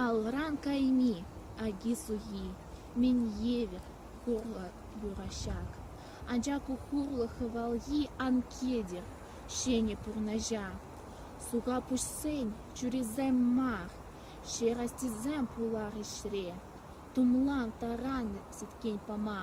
Алран кайми аки-сухи, мӗн евӗр хурлӑ юрӑ-ҫак. Анчах ку хурлӑ хӑвалхи ан кӗтӗр ҫӗнӗ пурнӑҫа. Суха пуҫсен чурисем мар, ҫерастисем пулар ӗҫре. Тумлан таран сӗткен пама.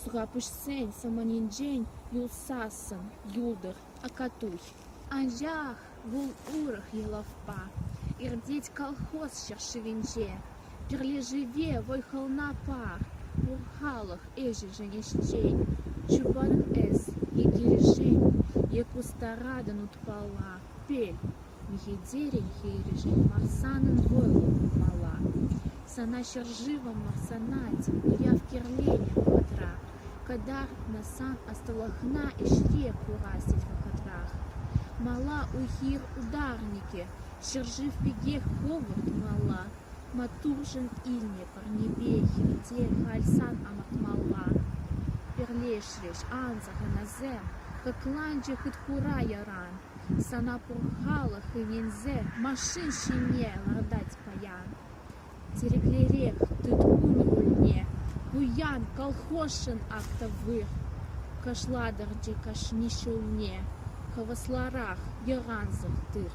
Сурапуҫсен саманинчен юлсассӑн юлтӑр Акатуй. Анчах вӑл урӑх йӑлапа иртет колхоз ҫӗршывӗнче. Пӗрлешӗве вӑй-хӑлна пар, пур халӑх ӗҫӗшӗн ӗҫчен, чупан эс е килӗшен е кустаратӑн утпала. Пел, Ехидерӗн хирӗҫӗн мӑрсанӑн вӑрӑ пулмалла. Сана ҫӗршывӑм мӑрсаначчӗ, уяв кирлӗне вӑхӑтра, кӑтартнӑ сан ӑслӑлӑхна ӗҫре курассин вӑхӑтрах. Мала уйхир ударникӗ ҫӗршыв пекех хӑвӑрт тумалла. Маттуршӑн илнӗ парнепе хирте халь сан амантмалла. Пӗрлешрӗҫ ан сахалансем, Кӑкланчӗ хыт-хура яран. Сана пур халӑх ӗненсе Машин ҫине лартать паян. Тӗреклерех тыткун кунне Пуян колхозшӑн ак тӑвых. Кӑшлатӑрчӗ кашни ҫулне Хӑвӑсларах йӑран сӑхтых.